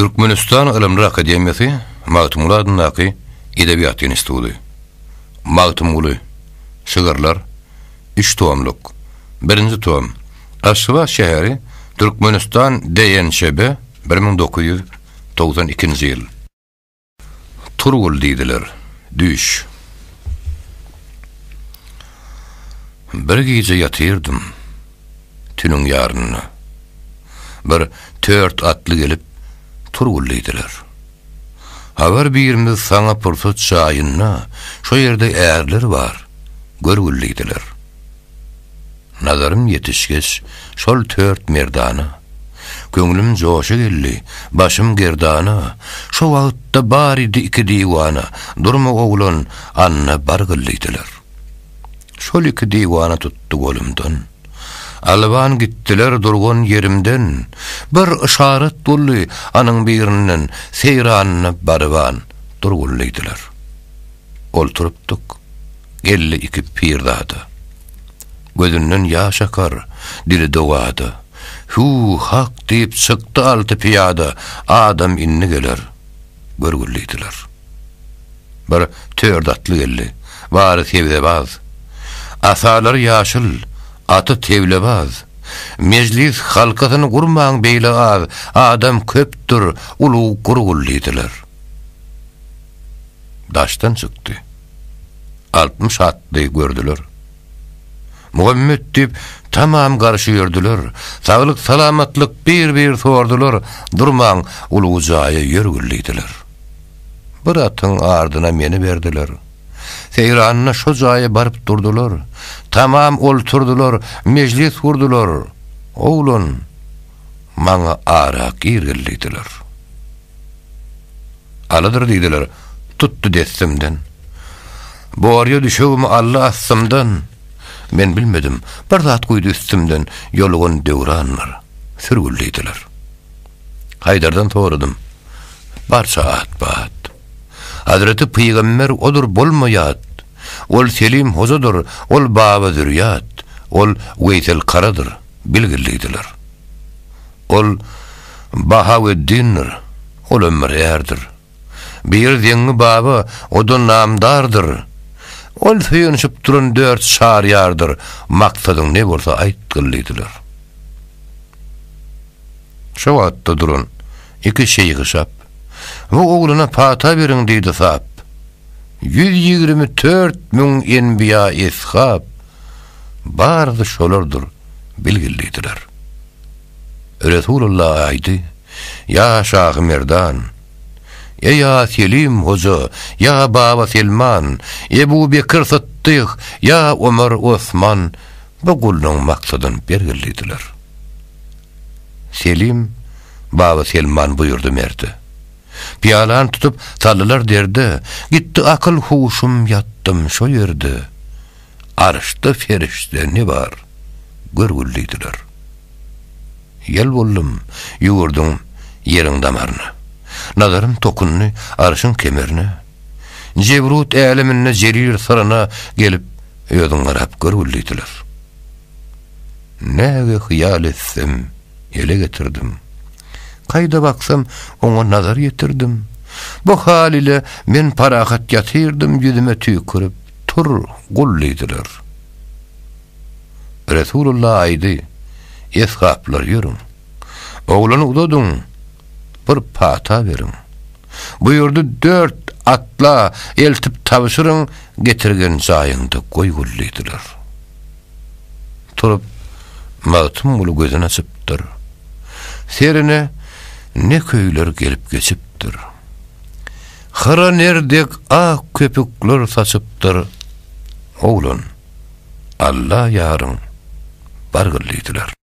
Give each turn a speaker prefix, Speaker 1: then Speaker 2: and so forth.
Speaker 1: Türkmenistan Ylymlar akademiýasy Magtymguly adyndaky Edebiýat institudy. Magtymguly, Şygyrlar, üç tomluk, birinji tom, Aşgabat şäheri, Türkmenistan DNÇB, bir müň dokuz ýüz togsan ikinji ýyl. Turgul diýdiler. Düş. Bir gije ýatyrdym. Tüniň ýarynda. Bir tört atly gelip, Turgul diýdiler. Abar birimiz saňa pursat jaýyna, şo ýerde ärler bar, görgül diýdiler. Nazarym ýetişgeç, şol tört merdana, Köňlüm joşa geldi, başym gerdana, Şo wagtda baridi iki diwana, Durma oglan, anna bar gyl diýdiler. Şol iki diwana tutdy golumdan, Alban gitdiler durgan ýerimden, Bir yşarat boldy anyň birinden, Seýranyna baryban dur gul diýdiler. Olturypdyk, geldi iki pirzada. Gözünden ýaş akar, dili dowada. Hüw, hak diýip çykdy alty pyýada, Adam indi geler, görgül diýdiler. Bir tört atly geldi, bary sebzebaz. Asalary ýaşyl, aty teblebaz. Mejlis halkasyny gurmaň beýle az, Adam köpdür, ulug gurgul diýdiler. Daşdan çykdy. Altmyş atly gördüler. Muhammet diýip, tamam garşy ýördüler. Saglyk-salamatlyk bir-bir sordular, durman ulug jaýa ýör güllidiler. Bir atyň ardyna meni berdiler. Seýranyna şo jaýa baryp durdular. Tamam olturdylar, mejlis gurdular. Oglan. maňa arak girgil diýdiler. Alydyr diýdiler, tutdy dessimden. Borýa düşegimi aldy astymdan. Men bilmedim, bir zat guýdy üstümden, ýolugan döwranlar, sürgül diýdiler. Haýdardan soradym, barça at-bat. Hazreti pygamber odur bolma ýat. Ol Selim hojadyr, ol baba zürýat, ol Weýsel karadyr. bilgilidiler. Ol Bahaweddindir, ol ömür ärdir. Bir Zeňňi baba, o-da namdardyr. Ol söýenişip duran dört çar ýardyr, maksadyň ne bolsa aýtgyllydylar. Şo wagtda duran iki şeýhi şap, Bu oglana pata beriň diýdi sap. Ýüz ýigrimi tört müň enbiýa-eshap, Bary-da şolardyr bilgillidiler. Resulalla aýdy, Ýa şahy merdan! Eý ýa Selim hoja, ýa Baba Selman, Ebu Bekir Sytdyk, ýa Omar Osman bu gullugyň maksadyn belgillidiler. Selim, Baba Selman buýurdy merde. Pyýalany tutup saldylar derde, Gitdi akyl-huşum ýatdym şo ýerde. Arşda perişde ne bar, görgül diýdiler. Ýel boldum, ýüwürdüm ýeriň damaryna. Nazarym tokundy arşyň kemerine. Jebrut äleminde jerir syryna gelip, özüň garap görgül diýdiler. Näge hyýal etsem, ele getirdim. Kaýda baksam, oňa nazar ýetirdim. Bu hal ile men parahat ýatyrdym ýüzüme tüýkürip. Tur, gul diýdiler. Resulullah aýdy, Esgaplar ýörüň. Oglany uzadyň, bir pata beriň. Buýurdy, Dört atla eltip tabşyryň, getirgen jaýyňda goý gul diýdiler. Turup, Magtymguly gözün açypdyr. Serine ne köýler gelip geçipdir. Hyra ner dek ak köpükler saçypdyr. Oglan, Alla ýaryň, bargyl diýdiler.